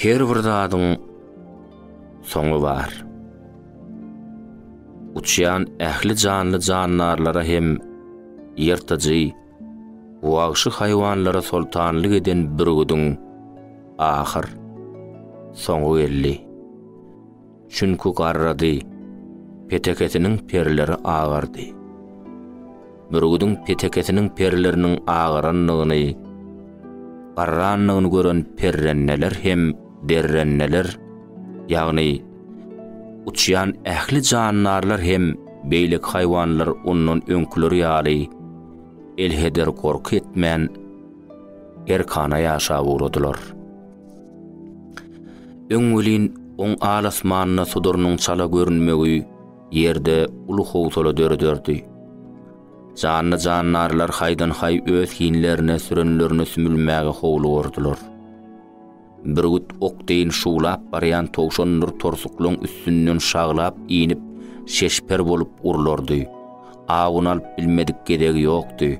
Her bir zadyň soňy bar. Uçýan ähli janly jandarlara hem ýyrtyjy, wagşy haýwanlara soltanlyk eden bürgüdiň ahyr soňy geldi. Çünki garrady, petekesiniň perleri agardy. Bürgüdiň petekesiniň perleriniň agarandygyny, garrandygyny gören perrenneler hem derrenneler, ýagny uçýan ähli jandarlar hem beýleki haýwanlar ondan öňküleri ýaly elheder gorky etmän, erkana ýaşap ugradylar. Öň welin oň al-asmanda sudurynyň çala görünmegi ýerde uly howsala dörederdi. Janly-jandarlar haýdan-haý öz hinlerine sürenlerine sümülmäge howlugurdylar. Bürgüt ok deýin şuwlap barýan towşandyr torsuklaryň üstünden şaglap inip, şeşper bolup urlardy. Awuny alyp bilmedik gezegi ýokdy.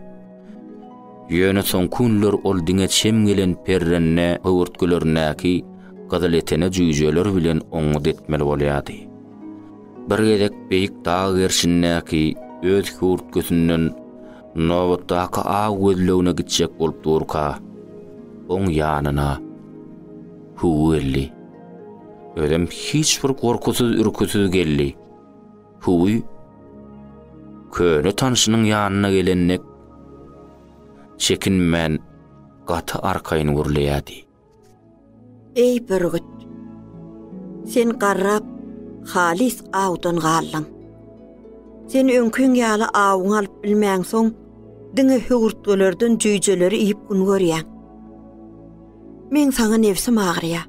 Ýöne soňky günler ol diňe çem gelen perrende höwürtgelerindäki gyzyletene jüýjeler bilen oňňut etmeli bolýardy. Bir gezek beýik dag gerşindäki öz hüwürtgesinden nobatdaky aw gözlegine gitjek bolup durka, oň ýanyna Hüwi geldi. Özem hiç bir gorkusyz-ürküsiz geldi. Huwi köne tanşynyň ýanyna gelen dek çekinmän gaty arkaýyn gürleýärdi. Eý bürgüt! Sen garrap, halys awdan galdyň. Sen öňkiň ýaly awuňy alyp bilmänsoň, diňe höwürtgelerden jüýjeleri iýip gün görýäň. Meň saňa nebsim agyrýar.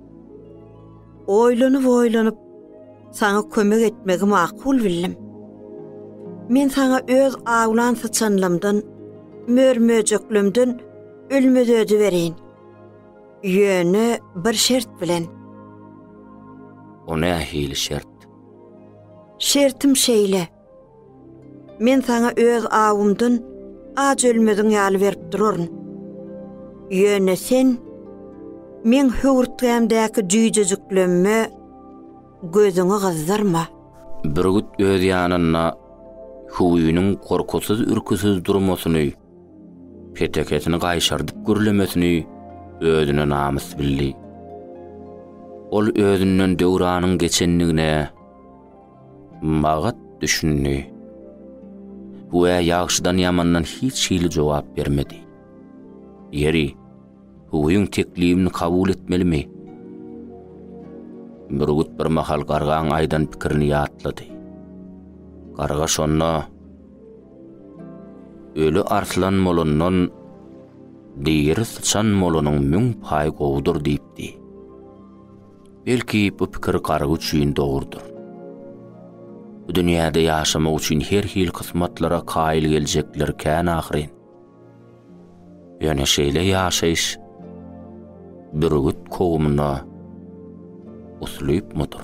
Oýlanyp-oýlanyp, saňa kömek etmegi makul bildim. Men saňa öz awlan syçanlamdan, mör-möjeklemden ölmezödi bereýin. Ýöne bir şert bilen. O nähili şert? Şertim şeýle. Men saňa öz awumdan aç ölmeziň ýaly berip duraryn. Ýöne sen meň höwürtgämdäki jüýjejiklemime gözüňi gyzdyrma. Bürgüt öz ýanynda Hüwiniň gorkusyz-ürküsiz durmasyny, petekesini gaýşardyp gürlemesini özüne namys bildi. Ol özünden döwranyň geçendigine, Magat düşündi. Hüwä ýagşydan-ýamandan hiç hili jogap bermedi. Ýeri, Hüwüň teklibini kabul etmelimi? Bürgüt bir mahal gargaň aýdan pikirini ýatlady. Garga şonda, Öli arslan bolandan, diri syçan bolanyň müň paý gowudyr diýipdi. Belki bu pikir garry üçin dogrudyr. Bu dünýäde ýaşamak üçin her hil kysmatlara kaýyl geljekler kän ahyryn. Ýöne şeýle ýaşaýyş bürgüt kowumyna uslypmydyr?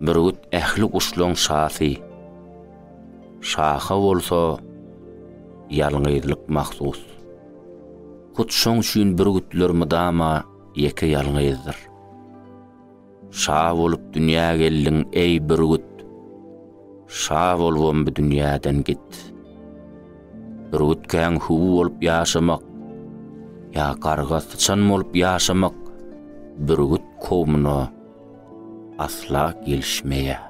Bürgüt ähli guşlaň şasy. Şaha bolsa ýalňyzlyk mahsus. Hut şoň üçin bürgütler mydama ýeke-ýalňyzdyr. Şa bolup dünýä geldiň, eý, bürgüt! Şa bolubam bu dünýäden git. Bürgütkäň hüwi bolup ýaşamak ýa garga-syçan bolup ýaşamak bürgüt kowmuna asla gelişmeýär.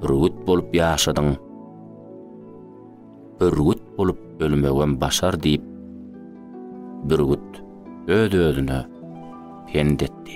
Bürgüt bolup ýaşadyň, bürgüt bolup ölmegem başar diýip, bürgüt öz-özüne pent etdi.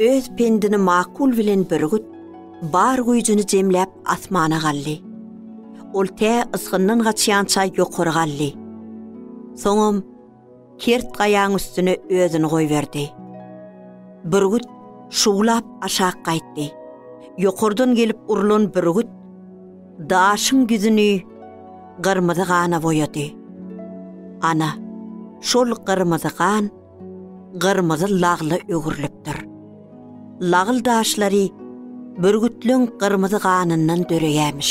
Öz pendini makul bilen bürgüt, bar güýjüni jemläp asmana galdy. Ol tä ysgyndan gaçýança ýokary galdy. Soňam kert gaýaň üstüne özüni goýberdi. Bürgüt şuwlap aşak gaýtdy. Ýokardan gelip urlan bürgüt Daşyň ýüzüni gyrmyzy gana boýady. Ana, şol gyrmyzy gan gyrmyzy lagla öwrülipdir. Lagl daşlary bürgütleň gyrmyzy ganyndan döreýämiş.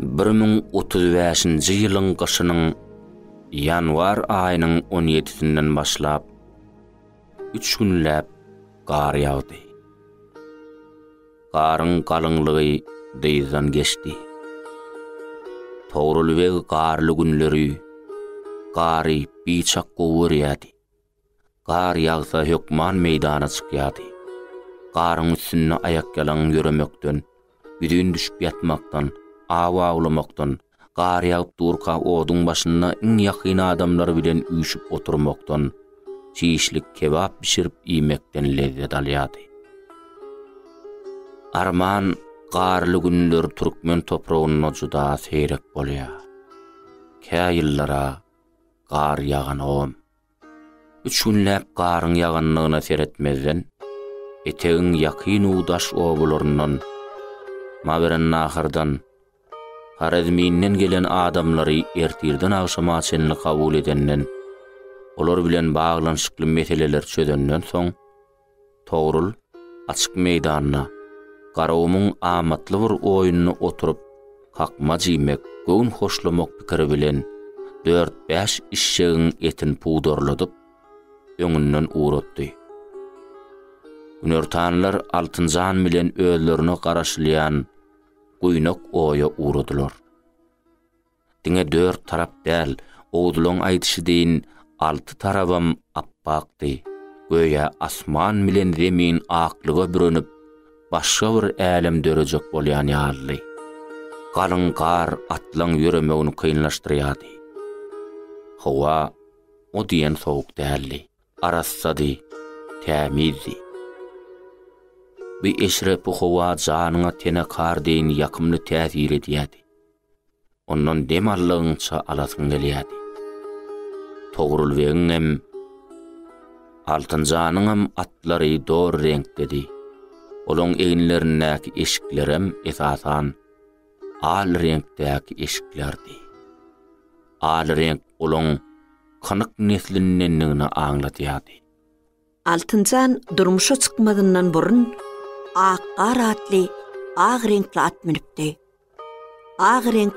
Bir müň otuz bäşinji ýylyň gyşynyň ýanwar aýynyň on ýedisinden başlap, üç günläp gar ýagdy. Garyň galyňlygy dyzdan geçdi. Togrul beg garly günleri gary biçak gowy görýärdi. Gar ýagsa hökman meýdana çykýardy. Garyň üstünde aýakýalaň ýöremekden, ýüzin düşüp ýatmakdan, aw awlamakdan, gar ýagyp durka oduň başynda iň ýakyn adamlar bilen üýşüp oturmakdan, çişlik kebap bişirip iýmekden lezzet alýardy. Arman, garly günler türkmen topragynda juda seýrek bolýar. Kä ýyllara gar ýaganogam. Üç günläp garyň ýagandygyna seretmezden, etegiň ýakyn u daş obalaryndan, Mawerannahardan, Horezminden gelen adamlary ertirden agşama çenli kabul edenden, olar bilen baglanyşykly meseleleri çözenden soň, Togrul açyk meýdanda Garagumuň amatly bir oýnuna oturyp kakmaj iýmek, göwün hoşlamak pikiri bilen dört-bäş işşegiň etini pudarladyp, öňünden ugratdy. Günortanlar Altynjan bilen özlerine garaşylýan guýnak oýa ugradylar. Diňe dört tarap däl, Oguzlaň aýdyşy deýin alty tarabam ap-akdy. Göýä asman bilen zemin aklyga bürenip, başga bir älem dörejek bolýan ýalydy. Galyň gar atlaň ýöremegini kynlaşdyrýardy. Howa o diýen sowuk däldi. Arassady, tämizdi. Bu eşrepi howa janyňa tenekar deýin ýakymly täsir edýärdi. Ondan dem aldygyňça alasyň gelýärdi. Togrulbegiňem, Altynjanyňam atlary dor reňkdedi. Olaryň eginlerindäki eşiklerem, esasan, al reňkdäki eşiklerdi. Al reňk olaryň kynyk neslindendigini aňladýardy. Altynjan durmuşa çykmazyndan burun ak gar atly ak reňkli at münüpdi. Ak reňk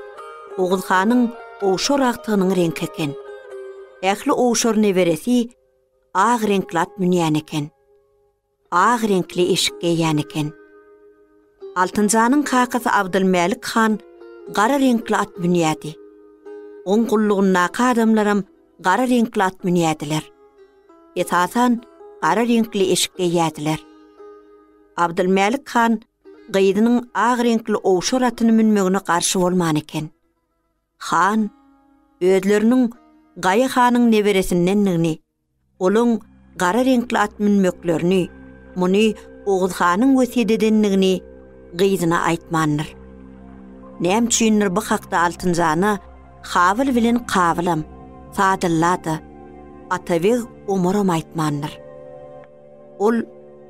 Oguz hanyň owşar agtygynyň reňki eken. Ähli owşar neberesi ak reňkli at münýän eken. Ak reňkli eşik geýýän eken. Altynjanyň kakasy Abdylmälik han gara reňkli at münýärdi. Oň gullugyndaky adamlaram gara reňkli at münýärdiler. Esasan, gara reňkli eşik geýýärdiler. Abdylmälik han gyzynyň ak reňkli owşar atyny münmegine garşy bolman eken. Han özleriniň Gaýy hanyň neberesindendigini Olaň gara reňkli at münmeklerini, muny Oguz hanyň wesýet edendigini gyzyna aýtmandyr. Näme üçindir bu hakda Altynjana Habyl bilen Kabylam, Sadylla-da, Atabeg Omaram aýtmandyr. Ol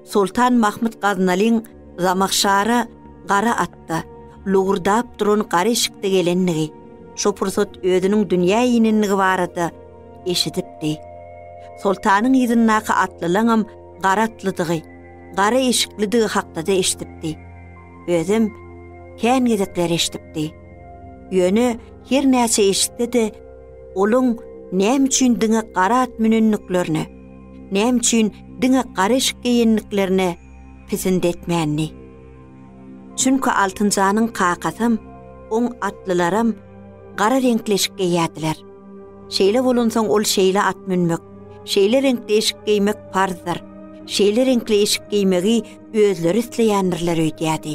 Soltan Mahmyt Gaznalyň Zamahşara gara atda, lowurdap duran gara eşikde gelendigi, şo pursat özüniň dünýä inendigi barada eşidipdi. Soltanyň yzyndaky atlylaňam gara atlydygy, gara eşiklidigi hakda-da eşidipdi. Özem kän gezekler eşidipdi. Ýöne her näçe eşitse-de, olaň näme üçin diňe gara at münendiklerine, näme üçin diňe gara eşik geýendiklerine pisindi etmändi. Çünki Altynjanyň kakasam, oň atlylaram gara reňkli eşik geýýärdiler. Şeýle bolansoň ol şeýle at münmek, şeýle reňkli eşik geýmek parzdyr, şeýle reňkli eşik geýmegi özleri isleýändirler öýdýärdi.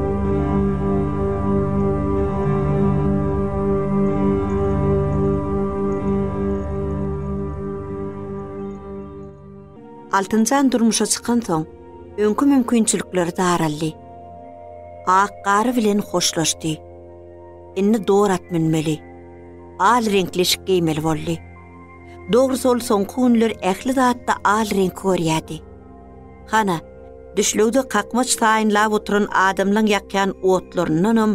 Altynjan durmuşa çykansoň, öňki mümkinçilikleri daraldy. Ak gary bilen hoşlaşdy. Indi dor at münmeli. Al reňkli şik geýmeli boldy. Dogrusy ol soňky günler ähli zatda al reňki görýärdi. Hana, düşlegde kakmaç taýynlap oturan adamlaň ýakýan otlaryndanam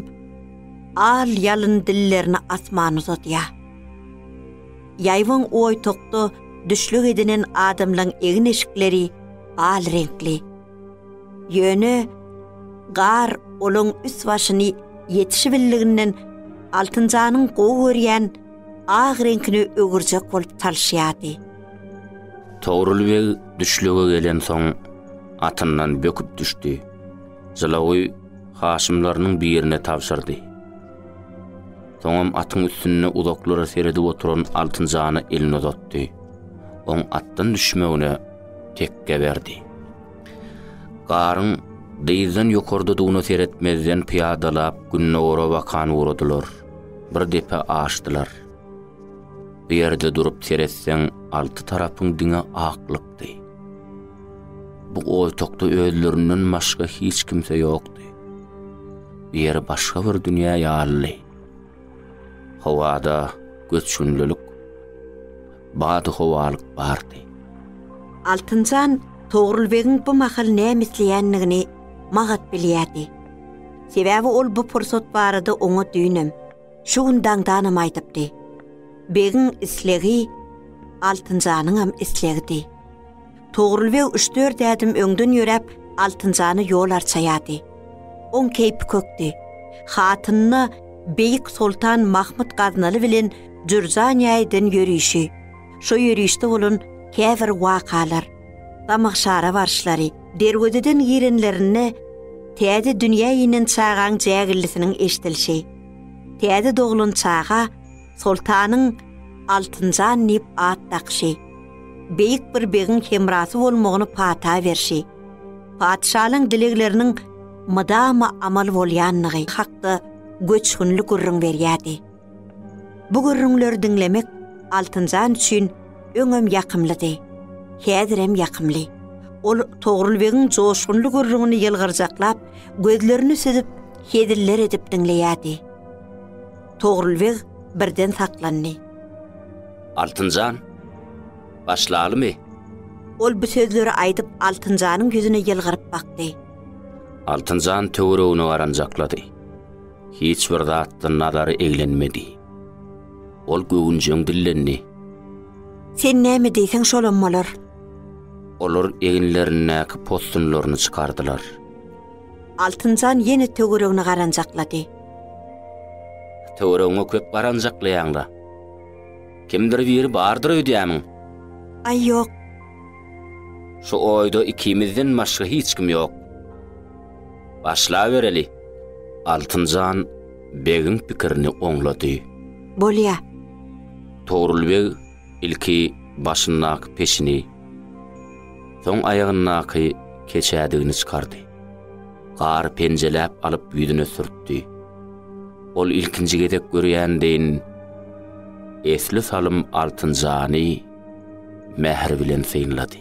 al-ýalyn dillerini asmana uzadýar. Ýaýbaň oýtakda düşleg edinen adamlaň egin-eşikleri al reňkli. Ýöne gar olaň üst-başyny ýetişibildiginden Altynjanyň gowy görýän ak reňkine öwürjek bolup çalyşýardy. Togrul beg düşlege gelensoň, atyndan böküp düşdi. Jylawy haşymlarynyň birine tabşyrdy. Soňam atyň üstünde uzaklara seredip oturan Altynjana elini uzatdy. Oň atdan düşmegine tekge berdi. Garyň dyzdan ýokardadygyna seretmezden pyýadalap gündogara bakan ugradylar. Bir depe aşdylar. Bu ýerde durup seretseň, alty tarapyň diňe aklykdy. Bu otagda özlerinden başga hiç kimse ýokdy. Bu ýer başga bir dünýä ýalydy. Howada göçgünlilik, bady howalyk bardy. Altynjan Togrul begiň bu mahal näme isleýändigini magat bilýärdi. Sebäbi ol bu pursat barada oňa düýnem, Şu gün daňdanam aýdypdy. Begiň islegi Altynjanyňam islegidi. Togrul beg üç-dört ädim öňden ýöräp, Altynjana ýol arçaýardy. Oň keýpi kökdi. Hatynyna beýik soltan Mahmyt Gaznaly bilen Jürjan ýaýydan ýörişi, şo ýörişde bolan käbir wakalar, Gamagşara barşlary, derwezeden girenlerinde täze dünýä inen çagaň jägillisiniň eşidilişi. Täze doglan çaga Soltanyň Altynjan diýip at dakyşy. Beýik bir begiň hemrasy bolmagyny pata berşi. Patyşalyň dilegleriniň mydama amal bolýandygy hakda göçgünli gürrüň berýärdi. Bu gürrüňleri diňlemek Altynjan üçin öňem ýakymlydy, häzirem ýakymly. Ol Togrul begiň joşgunly gürrüňini ýylgyrjaklap, gözlerini süzüp, heziller edip diňleýärdi. Togrul beg birden saklandy. Altynjan, başlalymy? Ol bu sözleri aýdyp, Altynjanyň ýüzüne ýylgyryp bakdy. Altynjan töweregine garanjaklady. Hiç bir zatdan nazary eglenmedi. Ol göwünjeň dillendi. Sen näme diýseň şolam bolar. Olar eginlerindäki possunlaryny çykardylar. Altynjan ýene töweregine garanjaklady. Töweregiňe köp garanjaklaýaň-la. Kimdir biri bardyr öýdýämiň? Aý, ýok. Şu oýda ikimizden başga hiç kim ýok. Başlabereli! Altynjan begiň pikirini oňlady. Bolýa. Togrul beg ilki başyndaky peşini, soň aýagyndaky keçädigini çykardy. Gary penjeläp alyp ýüzüne sürtdi. Ol ilkinji gezek görýän deýin, esli salym Altynjany mähir bilen synlady.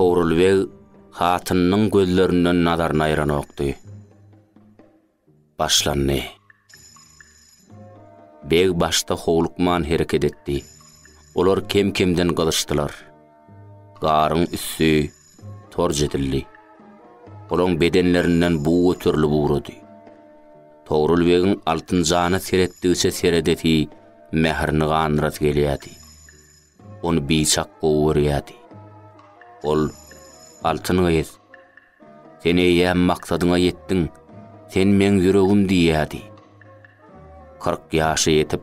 Togrul beg hatynynyň gözlerinden nazaryny aýranokdy. Başlandy. Beg başda howlukman hereket etdi. Olar kem-kemden gyzyşdylar. Garyň üsti Torj edildi. Olaň bedenlerinden bug göterilip ugrady. Togrul begiň Altynjana seretdigçe seredesi, mährini gandyrasy gelýärdi. Ony biçak gowy görýärdi. Ol, Altyn gyz, sen eýýäm maksadyňa ýetdiň, sen meň ýüregim diýýärdi. Kyrk ýaşa ýetip,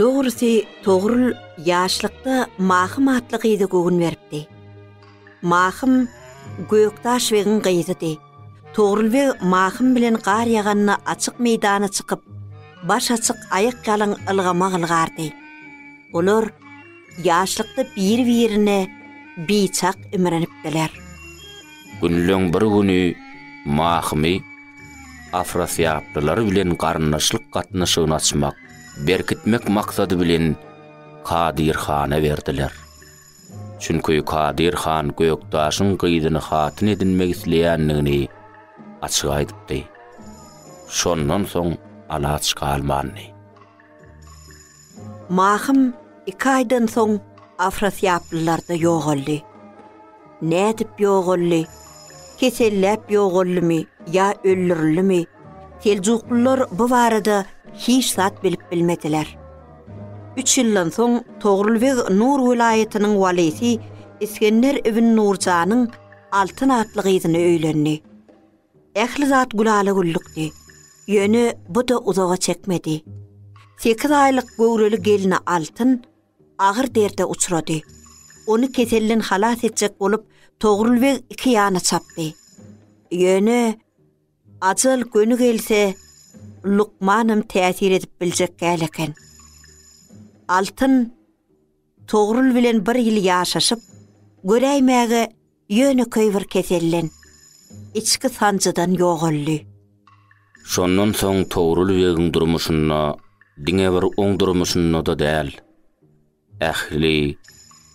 Dogrusy, Togrul ýaşlykda Mahym atly gyza göwün beripdi. Mahym Gökdaş begiň gyzydy. Togrulbeg Mahym bilen gar ýaganda açyk meýdana çykyp, baş açyk, aýak ýalaň ylgamak ylgardy. Olar ýaşlykda biri-birine biçak imrinipdiler. Günleň bir güni Mahymy afrasiýaplylar bilen garyndaşlyk gatnaşygyny açmak, berkitmek maksady bilen Kadyr hana berdiler. Çünki Kadyr han Gökdaşyň gyzyny hatyn edinmek isleýändigini açyk aýdypdy. Şondan soň alaç galmandy. Mahym iki aýdan soň afrasýaplylarda ýogaldy. Nädip ýogaldy, keselläp ýogaldymy ýa öldürildimi, Seljuklylar bu barada hiç zat bilip bilmediler. Üç ýyldan soň Togrul beg Nur welaýatynyň walysy Isgender ibn Nurjanyň Altyn atly gyzyna öýlendi. Ähli zat gülala-güllükdi. Ýöne bu-da uzaga çekmedi. Sekiz aýlyk göwreli gelni Altyn agyr derde uçrady. Ony keselden halas etjek bolup, Togrul beg iki ýana çapdy. Ýöne Ajal göni gelse, lukmanam täsir edip biljek däl eken. Altyn Togrul bilen bir ýyl ýaşaşyp, göräýmäge ýönekeý bir keselden, içki sanjydan ýogaldy. Şondan soň Togrul begiň durmuşynda, diňe bir oň durmuşynda-da däl, Ähli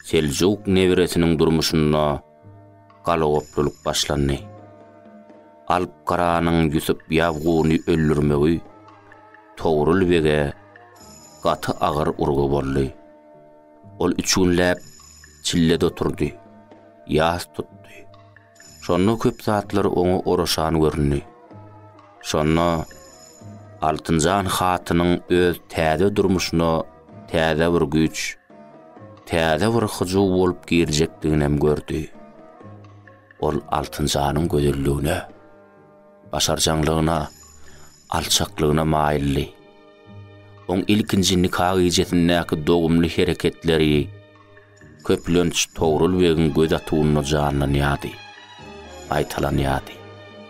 seljuk nebresiniň durmuşynda galagoplulyk başlandy. Alp Garanyň Ýusup Ýabguny öldürmegi Togrul bege gaty agyr urgy boldy. Ol üç günläp çillede oturdy, ýas tutdy. Şonda köp zatlar oňa oraşan göründi. Şonda Altynjan hatynyň öz täze durmuşyna täze bir güýç, täze bir hyjuw bolup girjekdiginem gördi. Ol Altynjanyň gözelligine, başarjaňlygyna, alçaklygyna maýyldy. Oň ilkinji nika gijesindäki dogumly hereketleri, Köplenç Togrul begiň göz atuwynda janlanýardy, gaýtalanýardy.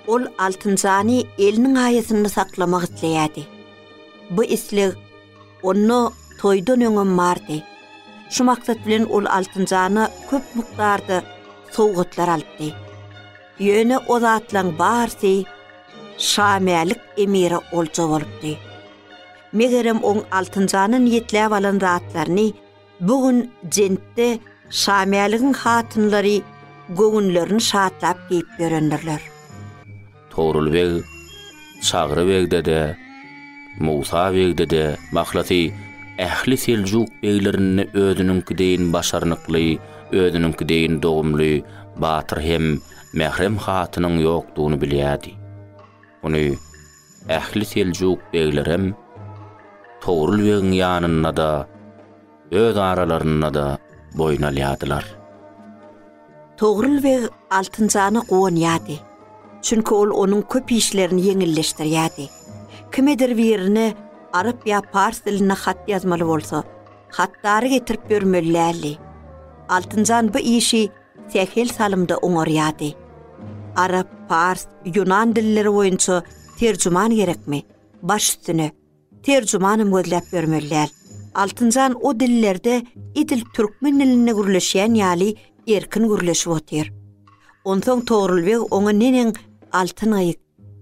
Ol Altynjany eliniň aýasynda saklamak isleýärdi. Bu isleg onda toýdan öňem bardy. Şu maksat bilen ol Altynjana köp mukdarda sowgatlar alypdy. Ýöne o zatlaryň barysy Şamälik emire olja bolupdy. Megerem oň Altynjana niýetläp alan zatlaryny Bu gün jentde Şamäligiň hatynlary göwünlerini şatlap geýip ýörendirler. Togrul beg, Çagry begde-de, Musa begde-de mahlasy ähli seljuk beglerinde özüniňki deýin başarnykly, özüniňki deýin dogumly batyr hem mährem hatynyň ýokdugyny bilýärdi. Muny Ähli seljuk beglerem Togrul begiň ýanynda-da, öz aralarynda-da boýun alýardylar. Togrul beg Altynjana guwanýardy. Çünki ol onuň köp işlerini ýeňilleşdirýärdi. Kimedir birine arap ýa pars dilinde hat ýazmaly bolsa, hatdary getirip ýörmeli däldi. Altynjan bu işi sähel salymda oňarýardy. Arap, pars, ýunan dilleri boýunça terjüman gerekmi? Baş üstüne, terjümanam gözläp ýörmeli däl. Altynjan o dillerde edil türkmen dilinde gürleşýän ýaly erkin gürleşip otyr. Onsoň Togrul beg oňa neneň Altyn gyz,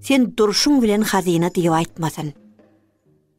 sen durşuň bilen hazyna diýip aýtmasyn.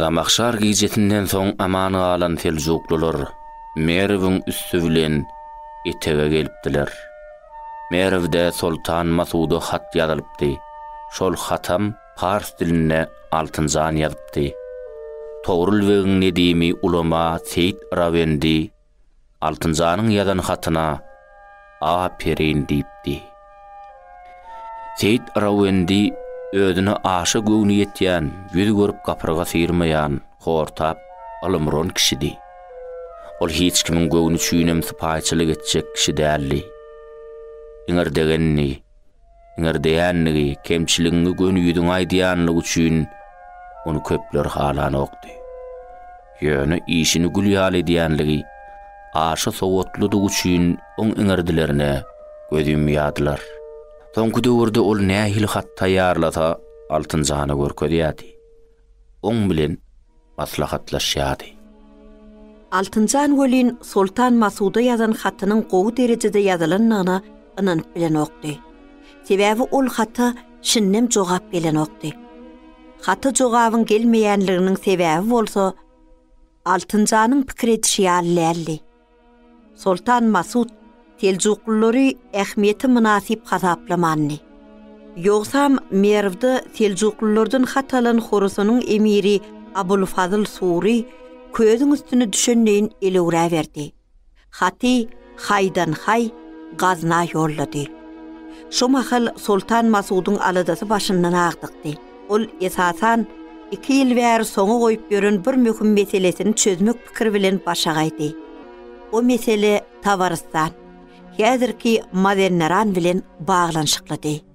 Zamahşar gijesinden soň aman galan seljuklylar Merwiň üsti bilen etege gelipdiler. Merwde soltan Masuda hat ýazylypdy. Şol hatam pars dilinde Altynjan ýazypdy. Togrul begiň nedimi ulama Seýit Yrabendi Altynjanyň ýazan hatyna Aperyn diýipdi. Seýit Yrawendi özüne aşa göwni ýetýän, ýüz görüp gapyrga syýrmaýan, hortap, ylymron kişidi. Ol hiç kimiň göwni üçinem sypaýyçylyk etjek kişi däldi. Iňirdegendi. Ňirdäýänligi, kemçiligiňi göni ýüzüňe aýdýanlygy üçin ony köpler halanokdy. Ýöne işini gül ýaly edýänligi, aşa sowatlydygy üçin oň iňirdilerine göz ýumýardylar. Soňky döwürde ol nähili hat taýýarlasa, Altynjana görkezýärdi. Oň bilen maslahatlaşýardy. Altynjan welin Soltan Masuda ýazan hatynyň gowy derejede ýazylandygyna ynanyp bilenokdy. Sebäbi ol hata şindem jogap gelenokdy. Hata jogabyň gelmeýänliginiň sebäbi bolsa Altynjanyň pikir edişi ýaly däldi. Soltan Masut seljuklylary ähmiýete mynasyp hasaplamandy. Ýogsam Merwde seljuklylardan hat alan Horasanyň emiri Abulfazyl Sury közüň üstüne düşenleýin elewräberdi. Haty Haýdanhaý Gazna ýollady. Şo mahal Soltan Masudyň aladasy başyndan agdykdy. Ol, esasan, iki ýyl bäri soňa goýup ýören bir möhüm meselesini çözmek pikiri bilen başa gaýdy. O mesele Tabarystan, häzirki Mawenneran bilen baglanyşyklydy.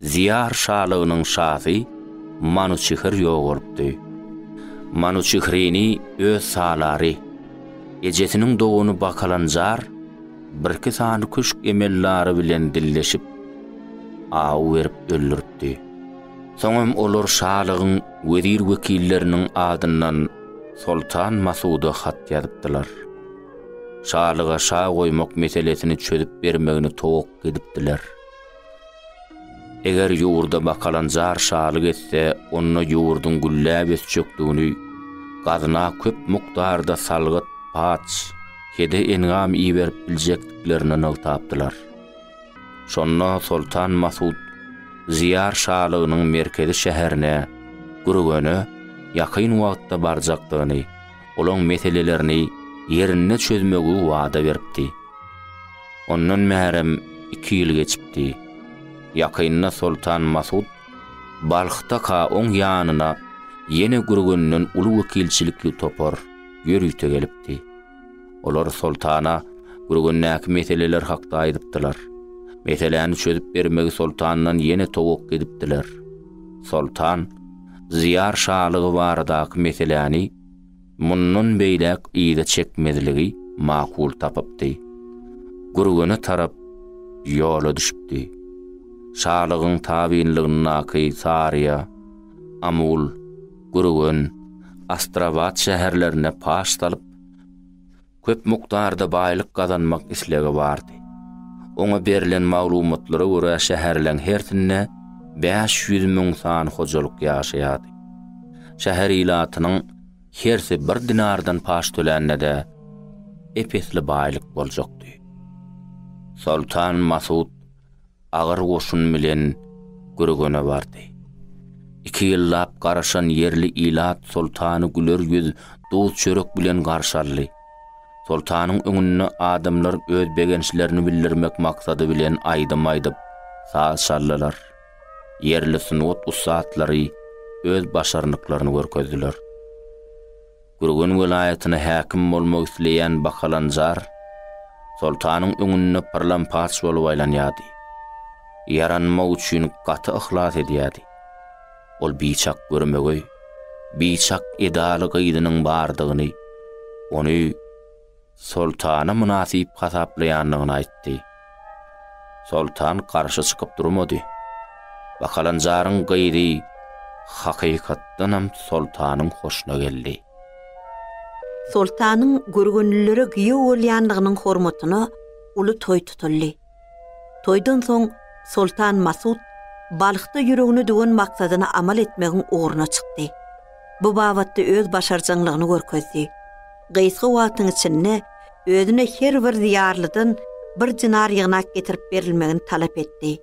Ziýar şalygynyň şasy Manuçihir ýogalypdy. Manuçihrini öz salary, ejesiniň dogany Bakalanjar birki sany küşk emellary bilen dilleşip, aw berip öldüripdi. Soňam olar şalygyň wezir-wekilleriniň adyndan soltan Masuda hat ýazypdylar. Şalyga şa goýmak meselesini çözüp bermegini towakga edipdiler. Eger ýurda bakalanjar şalyk etse, onda ýurduň gülläp ösjekdigini, gazyna köp mukdarda salgyt, paç, hede-engam iberip biljekdiklerini nygtapdylar. Şonda soltan Masut Ziýar şalygynyň merkezi şäherine, Gürgene, ýakyn wagtda barjakdygyny, olaň meselelerini ýerinde çözmegi wada beripdi. Ondan bärem iki ýyl geçipdi. Ýakynda Soltan Masut Balhdaka oň ýanyna ýene Gürgenden uly wekilçilikli topar ýörite gelipdi. Olar soltana Gürgendäki meseleler hakda aýdypdylar. Meseläni çözüp bermegi soltandan ýene towakga edipdiler. Soltan Zyýar şalygy baradaky meseläni mundan beýläk yza çekmezligi makul tapypdy. Gürgene tarap ýola düşüpdi. Şalygyň tabynlygyndaky Saryýa, Amul, Gürgen, Astrabat şäherlerine paş salyp, köp mukdarda baýlyk gazanmak islegi bardy. Oňa berlen maglumatlara görä şäherleň hersinde bäş ýüz müň sany hojalyk ýaşaýardy. Şäher ilatynyň hersi bir dinardan paç tölände-de ep-esli baýlyk boljakdy. Soltan Masut Agyr goşun bilen Gürgene bardy. Iki ýyllap garaşan ýerli ilat soltany güler ýüz, duz-çörek bilen garşy aldy. Soltanyň öňünde adamlar öz begençlerini bildirmek maksady bilen aýdym aýdyp, saz çaldylar. Ýerli sungat ussatlary öz başarnyklaryny görkezdiler. Gürgen welaýatyna häkim bolmak isleýän Bakalanjar soltanyň öňünde pyrlampaç bolup aýlanýardy. Ýaranmak üçin gaty yhlas edýärdi. Ol biçak görmegeý, biçak edaly gyzynyň bardygyny, ony, soltana mynasyp hasaplaýandygyny aýtdy. Soltan garşy çykyp durmady. Bakalanjaryň gyzy hakykatdanam soltanyň hoşuna geldi. Soltanyň görgünlilere giýew bolýandygynyň hormatyna uly toý tutuldy. Toýdan soň Soltan Masut Balhda ýüregine düwen maksadyna amal etmegiň ugruna çykdy. Bu babatda öz başarjaňlygyny görkezdi. Gysga wagtyň içinde özüne her bir diýarlydan bir dinar ýygnap getirip berilmegini talap etdi.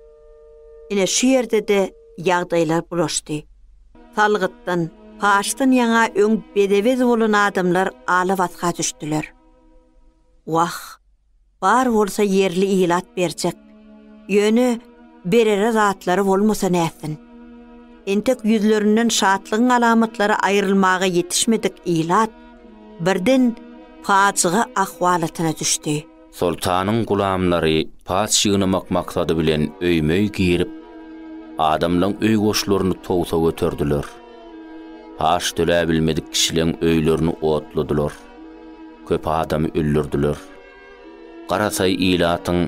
Ine şu ýerde-de ýagdaýlar bulaşdy. Salgytdan, paçdan ýaňa öň bede-bez bolan adamlar ala-basga düşdüler. Wah! Bar bolsa ýerli ilat berjek. Ýöne berere zatlary bolmasa nätsin. Entek ýüzlerinden şatlygyň alamatlary aýrylmaga ýetişmedik ilat birden pajyga ahwalatyna düşdi. Soltanyň gulamlary paç ýygnamak maksady bilen öýme-öý girip, adamlaň öý goşlaryny towsa göterdiler. Paç töläbilmedik kişileň öýlerini otladylar. Köp adamy öldürdiler. Garasaý ilatyň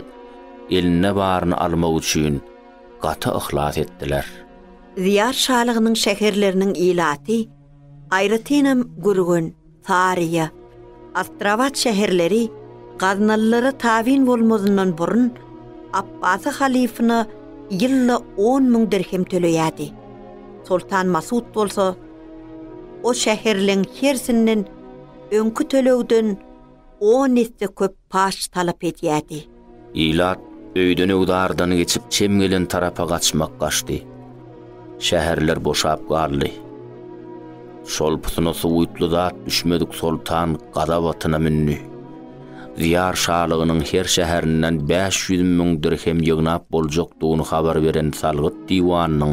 eline baryny almak üçin gaty yhlas etdiler. Ziýar şalygynyň şäherleriniň ilaty, aýratynam Gürgen, Saryýa, Astrabat şäherleri gaznalylara tabyn bolmazyndan burun Apbasy halyfyna ýylda on müň dirhem töleýärdi. Soltan Masut bolsa, O şäherleň hersinden öňki tölegden on esse köp paç talap edýärdi. Ilat öýdenöwdardan geçip çem gelen tarapa gaçmak gaçdy. Şäherler boşap galdy. Şol putyna suwutly zat düşmedik soltan gazap atyna mündi. Diýar şalygynyň her şäherinden bäş ýüz müň dirhem ýygnap boljakdygyny habar beren salgyt diwanynyň,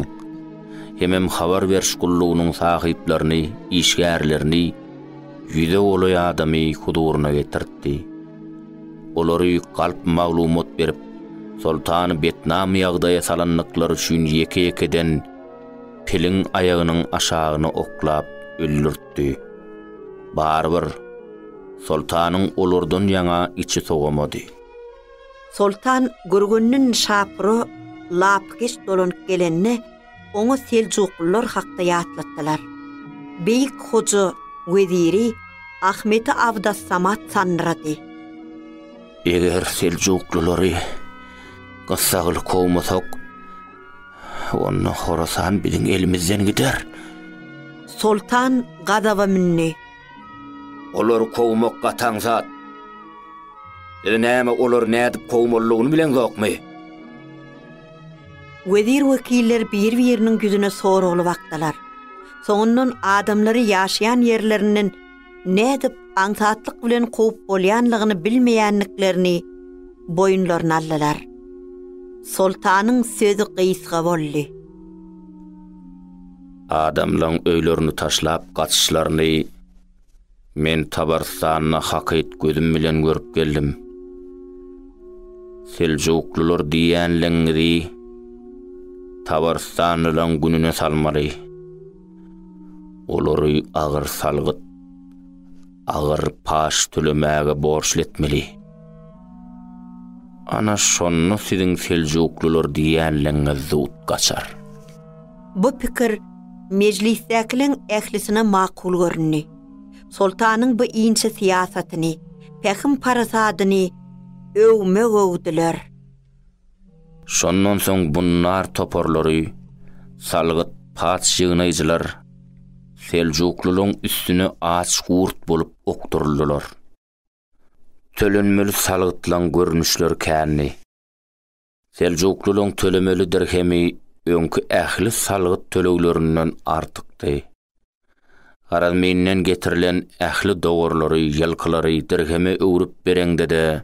hemem habar beriş gullugynyň sahyplaryny, işgärlerini, ýüze golaý adamy huzuryna getirtdi. Olary galp maglumat berip, soltany betnam ýagdaýa salandyklary üçin ýeke-ýekeden piliň aýagynyň aşagyny oklap öldürtdi. Barybir, soltanyň olardan ýaňa içi sowamady. Soltan Gürgündin Şapura lapykeç dolanyp gelende, oňa seljuklylar hakda ýatlatdylar. Beýik hoja weziri Ahmeti Abdassamat sandyrady. Eger seljuklylary gyssagly kowmasak, onda Horasan biziň elimizden gider. Soltan gazaba mündi. Olary kowmak gataň zat. Ýöne näme olary nädip kowmalyny bileňzokmy? Wezir-wekiller bir-biriniň ýüzüne soragly bakdylar. Soňundan adamlary ýaşaýan ýerlerinden nädip aňsatlyk bilen kowup bolýanlygyny bilmeýändiklerini boýunlaryna aldylar. Soltanyň sözi gysga boldy. Adamlaň öýlerini taşlap gaçyşlaryny men Tabarystanda hakyt gözüm bilen görüp geldim. Seljuklylar diýýänligiňizi Tabarystanlylaň gününe salmaly. Olary agyr salgyt. agyr paç tölemäge borçly etmeli. Ana şonda siziň seljuklylar diýýänligiňiz zut gaçar. Bu pikir mejlisdäkileriň ählisine makul göründi. Soltanyň bu inçe syýasatyny, pähim-parasadyny öwme-öwdüler. Şondan soň bunnar toparlary, salgyt paç ýygnaýjylar seljuklylaryň üstüne aç gurt bolup okduryldylar. Tölenmeli salgytlaryň görnüşleri kändi. Seljuklylaryň tölemeli dirhemi öňki ähli salgyt töleglerinden artykdy. Garazminden getirilen ähli dowarlary, ýylkylary dirheme öwrüp bereňde-de,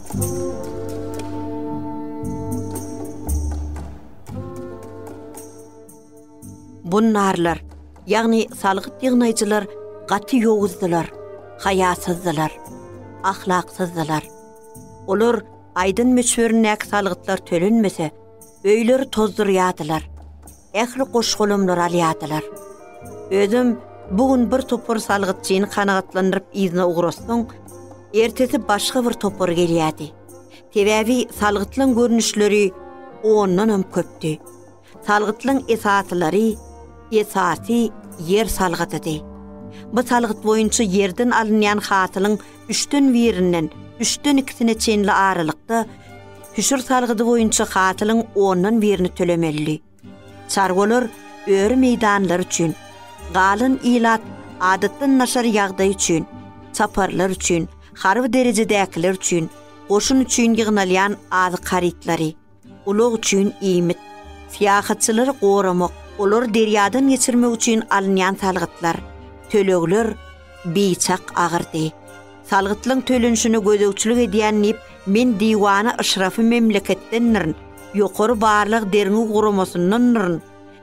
Bunnarlar, ýagny salgyt ýygnaýjylar gaty ýowuzdylar, haýasyzdylar, ahlaksyzdylar. Olar aýdan möçberindäki salgytlar tölenmese, öýleri tozdurýardylar. ähli goş-golamlary alýardylar. Özem bu gün bir topar salgytçyny kanagatlandyryp yzyna ugratsaň, ertesi başga bir topar gelýärdi. Sebäbi salgytlaň görnüşleri ondanam köpdi. Salgytlaň esasylary, esasy ýer salgydydy. Bu salgyt boýunça ýerden alynýan hasylyň üçden birinden üçden ikisine çenli aralykda hüşür salgydy boýunça hasylyň ondan birini tölemelidir. Çarwalar öri meýdanlary üçin, galan ilat adatdan naşar ýagdaý üçin, çaparlar üçin, harby derejedäkiler üçin, goşun üçin ýygnalýan azyk harytlary, Ulag üçin iýmit. Syýahatçylary goramak. Olary derýadan geçirmek üçin alynýan salgytlar, tölegler biçak agyrdy. Salgytlaň tölenişine gözegçilik edýän nip men diwana yşrafy memleketdendirin, ýokary barlag derňew guramasyndandyryn,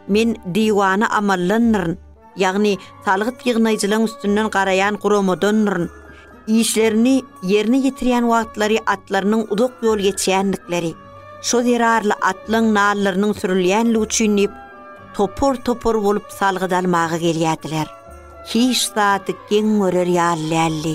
men diwana amallandyryn. ýagny salgyt ýygnaýjylaryň üstünden garaýan guramadandyryn, işlerini ýerine ýetirýän wagtlary atlarynyň uzak ýol geçýändikleri, şo zerarly atlaryň nallarynyň sürülýänligi üçin diýip, topar-topar bolup salgyt almaga gelýärdiler. Hiç zady geň görer ýaly däldi.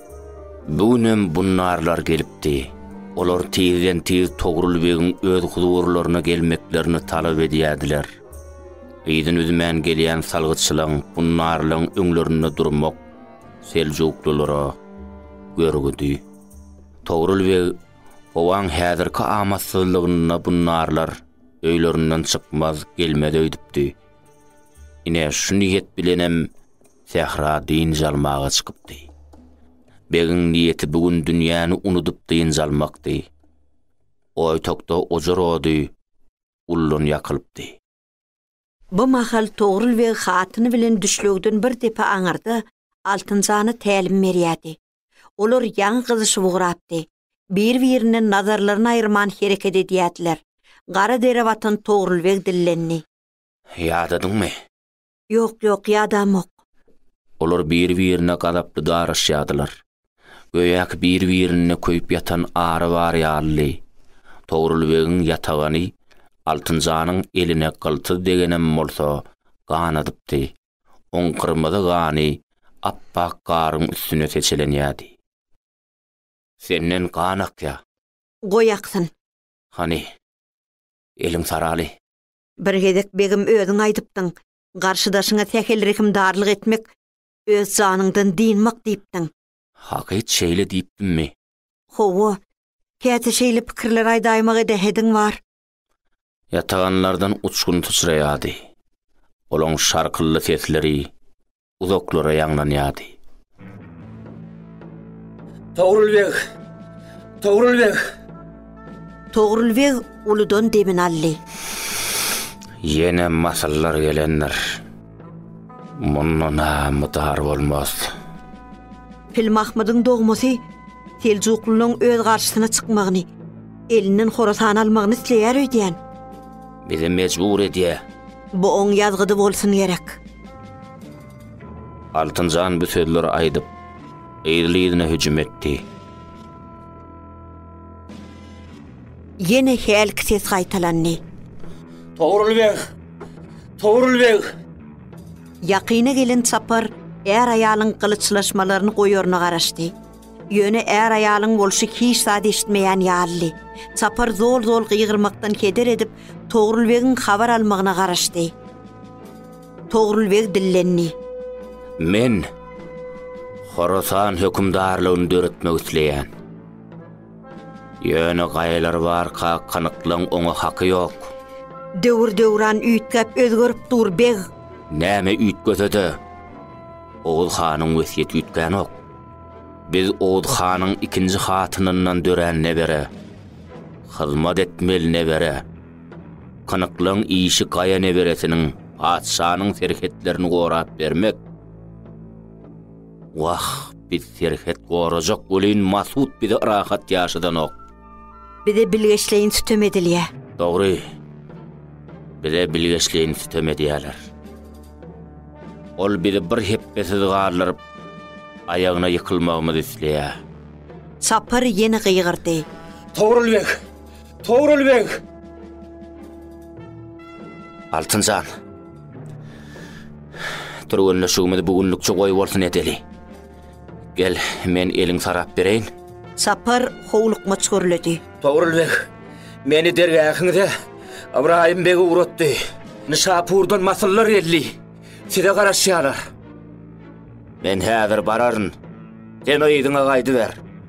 Bu günem bunnarlar gelipdi. Olar tizden-tiz Togrul begiň öz huzurlaryna gelmeklerini talap edýärdiler. Yzyn üzmän gelýän salgytçylaň, bunnarlaň öňlerinde durmak seljuklylara görgüdi. Togrul beg, Obaň häzirki amatsyzlygynda bunnarlar öýlerinden çykmaz, gelmez öýdüpdi. Ine, şu niýet bilenem Sähra dynç almaga çykypdy. Begiň niýeti bu gün dünýäni unudyp dynç almakdy. Oýtakda ojar ody ullan ýakylypdy. Bu mahal Togrul beg hatyny bilen düşlegden bir depe aňyrda Altynjana tälim berýärdi. Olar ýaňy gyzyşyp ugrapdy. Bir-birinden nazarlaryny aýyrman hereket edýärdiler. Gara dere batan Togrul beg dillendi. Ýadadyňmy? Ýok, ýok, ýadamok. Olar bir-birine gazaply daraşýardylar. Göýäki bir-birinde köýüp ýatan ary bar ýalydy. Togrul begiň ýatagany Altynjanyň eline gyltyz degenem bolsa, ganadypdy. Oň gyrmyzy gany ap-ak garyň üstüne seçelenýärdi. Senden gan akýar. Goý aksyn. Hany, eliň saraly. Bir gezek begim özüň aýdypdyň, garşydaşyňa sähel-rehimdarlyk etmek, öz janyňdan dynmak diýipdiň. Hakyt şeýle diýipdimmi? Hawa, käte şeýle pikirler aýdaýmak edähediň bar. Ýataganlardan uçgun syçraýardy. Olaň şarkylly sesleri, uzaklara ýaňlanýardy. Togrul beg! Togrul beg! Togrul beg uludan demini aldy. Ýene masyllar gelendir. Munda namydar bolmaz. Pilmahmydyň dogmasy Seljuklylaryň öz garşysyna çykmagyny, elinden Horasany almagyny isleýär öýdýän. Bizi mejbur edýä. Bu oň ýazgydy bolsun gerek. Altynjan bu sözleri aýdyp, yzly-yzyna hüjüm etdi. Ýene hälki ses gaýtalandy. Togrul beg! Togrul beg! Ýakyna gelen çapar är-aýalyň gylyçlaşmalaryny goýaryna garaşdy. Ýöne är-aýalyň bolşy hiç zat eşitmeýän ýalydy. Çapar zol-zol gygyrmakdan heder edip, Togrulbegiň habar almagyna garaşdy. Togrulbeg dillendi. Men Horasan hökümdarlygyny döretmek isleýän. Ýöne gaýalar barka kanyklaň oňa haky ýok. Döwür-döwran üýtgäp özgerip dur, beg! Näme üýtgese-de, Oguz hanyň wesýeti üýtgänok. Biz Owd hanyň ikinji hatynyndan dörän nebere. Hyzmat etmeli nebere. Kynyklyň işi gaýa neberesiniň patyşanyň serhetlerini gorap bermek. Wah, biz serhet gorajak welin Masud bize rahat ýaşadanok. Bize bilgeşleýin sütem edilýär. Dogry. Bize bilgeşleýin sütem edýärler. Ol bizi bir hepbesiz galdyryp, aýagyna ýykylmagymyzy isleýär. Çapar ýene gygyrdy. Togrul beg! Togrul beg! Altyn jan! Türgenleşigimizi bu günlükçe goýbolsun edeli. Gel, men eliň sarap bereýin. Sapar howlukmaç gürledi. Togrul beg meni dergähiňize Ybraýym bege ugratdy. Nyşapurdan masyllar geldi. Size garaşýarlar. Men häzir bararyn. Sen yzyňa gaýdyber.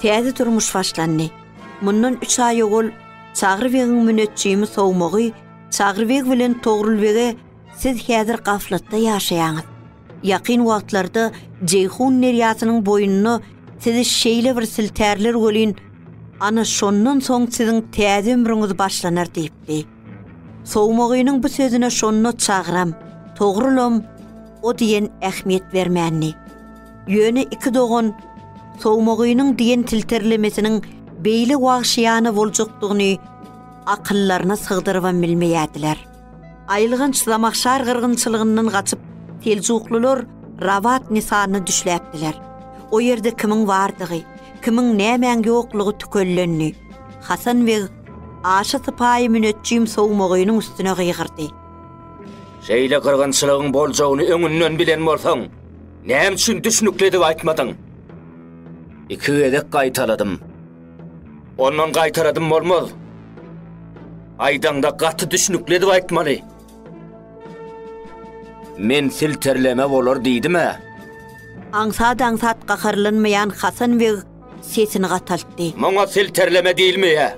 Täze durmuş başlandy. Mundan üç aý owal Çagry begiň müneçjimi sowmagy Çagry beg bilen Togrul bege Siz häzir gaflatda ýaşaýaňyz. Ýakyn wagtlarda Jeýhun derýasynyň boýunda sizi şeýle bir siltärler welin, ana şondan soň siziň täze ömrüňiz başlanar diýipdi. Sowmagynyň bu sözüne şonda Çagryam, Togrulam o diýen ähmiýet bermändi. Ýöne iki dogan Sowmagynyň diýen tilterlemesiniň beýle wagşyýana boljakdygyny akyllaryna sygdyrybam bilmeýärdiler. Aýylganç Zamahşar gyrgynçylygyndan gaçyp, seljuklylar Rabat Nisanyna düşläpdiler. O ýerde kimiň bardygy, kimiň nämäň ýoklugy tükellendi. Hasan beg aşa sypaýy müneçjim Sowmagynyň üstüne gygyrdy. Şeýle gyrgynçylygyň boljagyny öňünden bilen bolsaň, Näme üçin düşnükli edip aýtmadyň? Iki gezek gaýtaladym. Ondan gaýtaladym bolmaz. Aýdaňda gaty düşnükli edip aýtmaly. Men silterleme bolar diýdim-ä. Aňsat-aňsat gaharlanmaýan Hasan beg sesini gataltdy. Muňa silterleme diýilmeýär.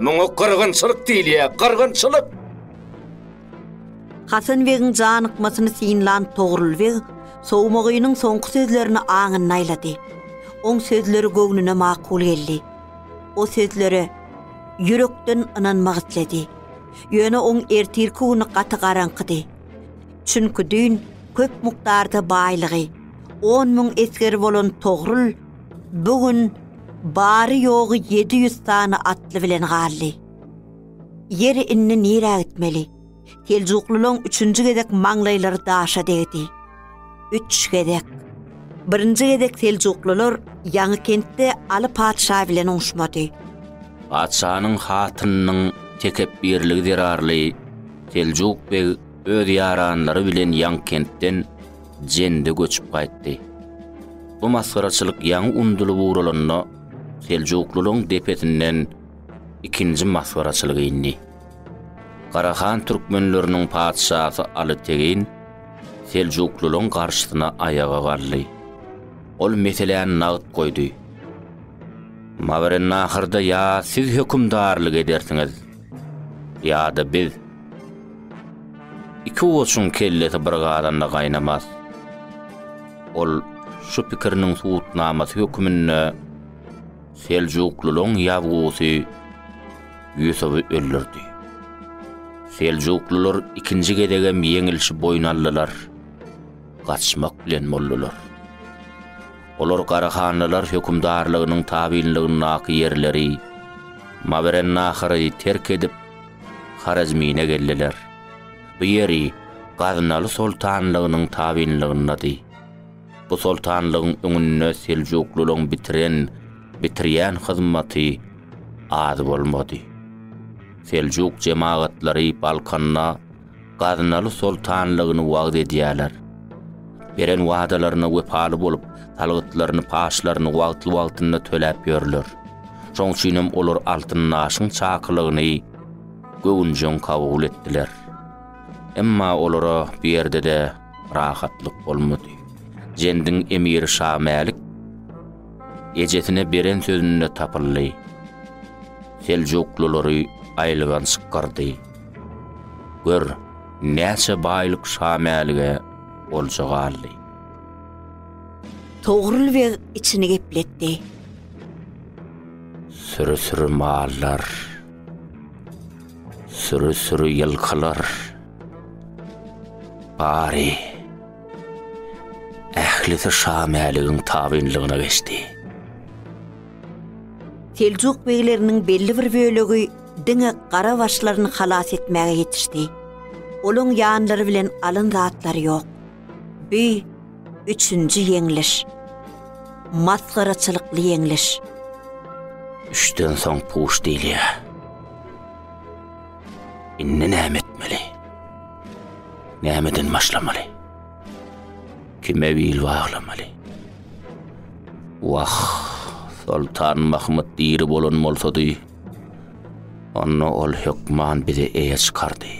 Muňa gyrgynçylyk diýilýär, gyrgynçylyk! Hasan begiň janykmasyny synlan Togrul beg Sowmagynyň soňky sözlerini aňynda aýlady. Oň sözleri göwnüne makul geldi. O sözlere ýürekden ynanmak isledi. Ýöne oň ertirki güni gaty garaňkydy. Çünki düýn köp mukdarda baýlygy on müň esgeri bolan Togrul bu gün bary-ýogy ýedi ýüz sany atly bilen galdy. Ýeri indi nirä gitmeli? Seljuklylaryň üçünji gezek maňlaýlary daşa degdi. Üç gezek. Birinji gezek seljuklylar Ýaňykentde Aly patyşa bilen uňuşmady. Patyşanyň hatynynyň tekepbirligi zerarly Seljuk beg öz ýaranlary bilen Ýaňykentden Jende göçüp gaýtdy. Bu masgaraçylyk ýaňy undulyp ugralanda, seljuklylaryň depesinden ikinji masgaraçylygy indi. Garahan türkmenleriniň patyşasy Aly Tegin seljuklylaryň garşysyna aýaga galdy. Ol meseläni nagt goýdy. Mawerennahyrda ýa siz hökümdarlyk edersiňiz, ýa-da biz. Iki goçuň kellesi bir gazanda gaýnamaz. Ol şu pikiriniň subutnamasy hökmünde Seljuklylaryň ýabgusy Ýusuby öldürdi. Seljuklylar ikinji gezegem ýeňilişi boýun aldylar. Gaçmak bilen boldular. Olar Garahanlylar hökümdarlygynyň tabynlygyndaky ýerleri Mawerennahary terk edip, Horezmine geldiler. Bu ýeri Gaznaly soltanlygynyň tabynlygyndady. Bu soltanlygyň öňünde seljuklylaryň bitiren, bitirýän hyzmaty az bolmady. Seljuk jemagatlary Balkanda Gaznaly soltanlygyny wagyz edýärler. Beren wadalaryna wepaly bolup, salgytlaryny, paçlaryny wagtly-wagtynda töläp ýörler. Şoň üçin hem olar Altyndaşyň çakylygyny göwünjeň kabul etdiler. Emma olara bu ýerde-de rahatlyk bolmady. Jendiň emiri Şamälik ejesine beren sözünde tapyldy. Seljuklulary aýylganç gyrdy. Gör, näçe baýlyk Şamälige olja galdy. Togrul beg içini gepletdi. Süri-süri mallar. Süri-süri ýylkylar bary ählisi Şa Mäligiň tabynlygyna geçdi. Seljuk begleriniň belli bir bölegi diňe gara başlaryny halas etmäge ýetişdi. Olaň ýanlary bilen alan zatlary ýok. Bi üçünji ýeňliş. Masgaraçylykly ýeňliş. Üçden soň puş diýilýär. Indi näme etmeli? Nämeden başlamaly? Kime bil baglamaly? Wah, Soltan Mahmud diri bolan bolsady, onda ol hökman bizi eýe çykardy.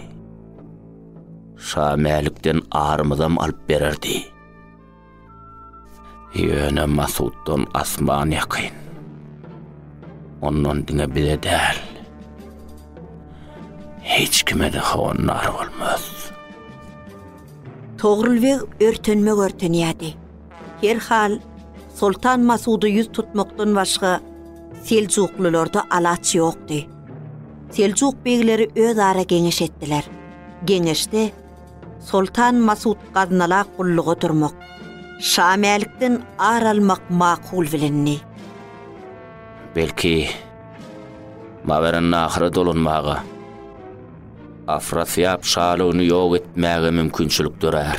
Şa Mälikden arymyzam alyp bererdi. Ýöne Masuddan asman ýakyn. Ondan diňe bize däl. Hiç kime de howandar bolmaz. Togrul beg örtenme görtenýärdi. Her hal, Soltan Masuda ýüz tutmakdan başga seljuklylarda alaç ýokdy. Seljuk begleri özara geňeş etdiler. Geňeşde Soltan Masut Gaznala gulluga durmak, Şa Mälikden ar almak makul bilindi. Belki, Mawerennahra dolanmaga, Afrasyýap şalygyny ýok etmäge mümkinçilik dörär.